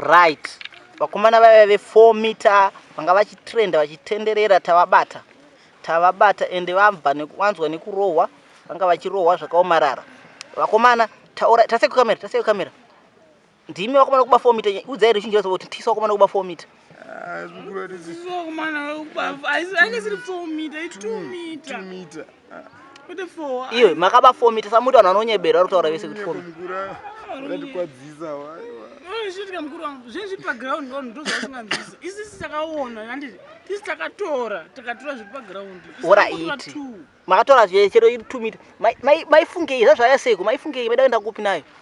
Right. Vakomana vaya ve 4 meter vanga vachitrenda vachitenderera tavabata. Tavabata ende vabva nekuwanzwa nekurohwa vanga vachirohwa zvakaomarara. Vakomana taura tase kukamera tase kukamera. Ndimi vakomana kuba 4 meter udzai ruzhinji rose kuti tisu vakomana kuba 4 meter. Ah, zvikuratidza. Vakomana kuba aisiri 4 meter, 2 meter. 2 meter. iwe makaba fomi tisamuti vanhu vanonyebera vari kutaura vese kuti fomi oraiti makatora zvechero iri two mita maifungei zvazvaya seiko maifungei maida kuenda kupi nayo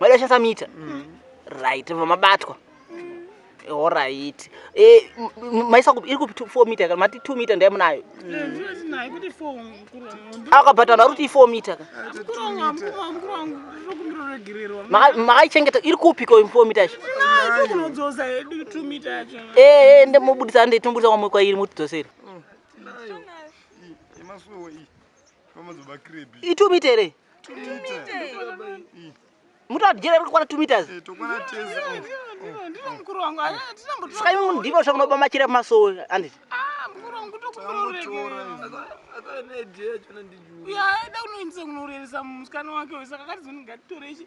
maida kushandisa mita mm. right vobva mabatwa horaiti eh, maisa kupi iri kupi four mita ka mati two mita ndai munayo akabatana ari kuti four mita ka makaichengeta iri kupi ko four mita yacho ee ndimobudisa ndeitomburisa kwamwe kwairi mutidzosere itumite here mutadyera kukwana two meters eh, saka imi mundiva sva munoba machira pamasowe anditi uyaida kunoindisa kunoreresa musikana wake wesaka kati zoni ngatitorei